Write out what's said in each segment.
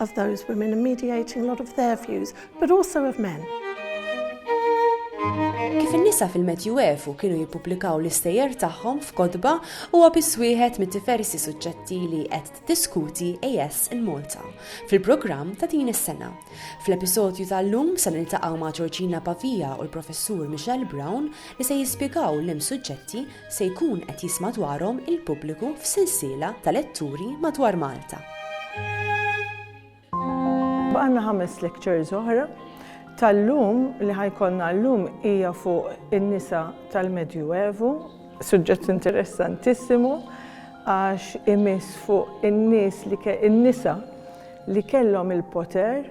of those women and mediating a lot of their views, but also of men. Kif in-nisa fil-Medjuevu kienu jippubblikaw l-istejjer tagħhom f'kotba huwa biss wieħed mit-diversi suġġetti li qed tiddiskuti AS in Malta fil-programm ta' din is-sena. Fl-episodju tal-lum se niltaqgħu ma' Georgina Pavia u l-Professur Michelle Brown li se jispjegaw l-hemm suġġetti se jkun qed jisma' dwarhom il-pubbliku f'sensiela ta' letturi madwar Malta. Baqgħalna ħames lectures oħra. Tal-lum, li ħa jkollna llum hija fuq in-nisa tal-Medju Evu. Suġġett interessantissimu għax imiss fuq in-nies li in-nisa li kellhom il-poter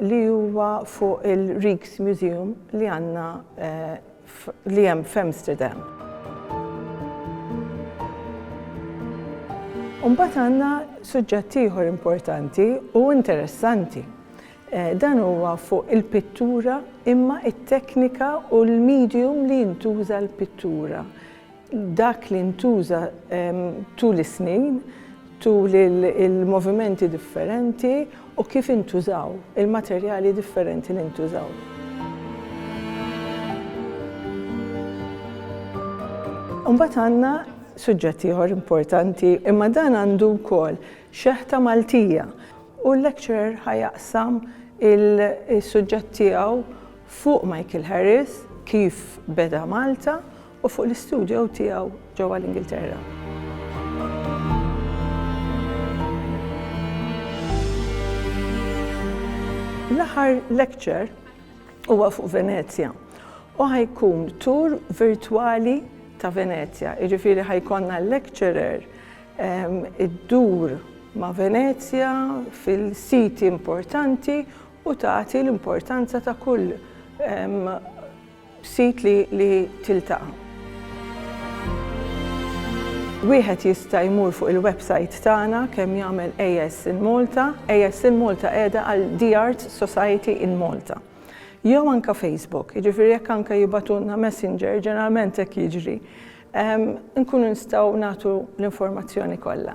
li huwa fuq il-Rijksmuseum li għandna li hemm f'Amsterdam. U mbagħad għandna suġġett ieħor importanti u interessanti. Dan huwa fuq il-pittura imma t-teknika u l-medium li jintuża l-pittura. dak li ntuża tul is-snin, tul il-movimenti differenti u kif intużaw, il-materjali differenti li ntużaw. Imbagħad għandna suġġett ieħor importanti, imma dan għandu wkoll xeħta Maltija u l-lecturer ħa jaqsam is-suġġett tiegħu fuq Michael Harris, kif beda Malta u fuq l-istudio tiegħu ġewwa l-Ingilterra. L-aħħar lecture huwa fuq Venezja u ħajkun tour virtwali ta' Venezja, jiġifieri ħajkonna l-lecturer ehm, iddur ma' Venezja fil-siti importanti u tagħti l-importanza ta' kull ehm, B'sit li li tiltaqa'. Wieħed jista' jmur fuq il-websajt tagħna kemm jagħmel AS in Malta, AS in Malta qiegħda għal The Arts Society in Malta. Jew anke Facebook, jiġifieri jekk anke jibagħtulna messenger, ġeneralment hekk jiġri, inkunu nistgħu nagħtu l-informazzjoni kollha.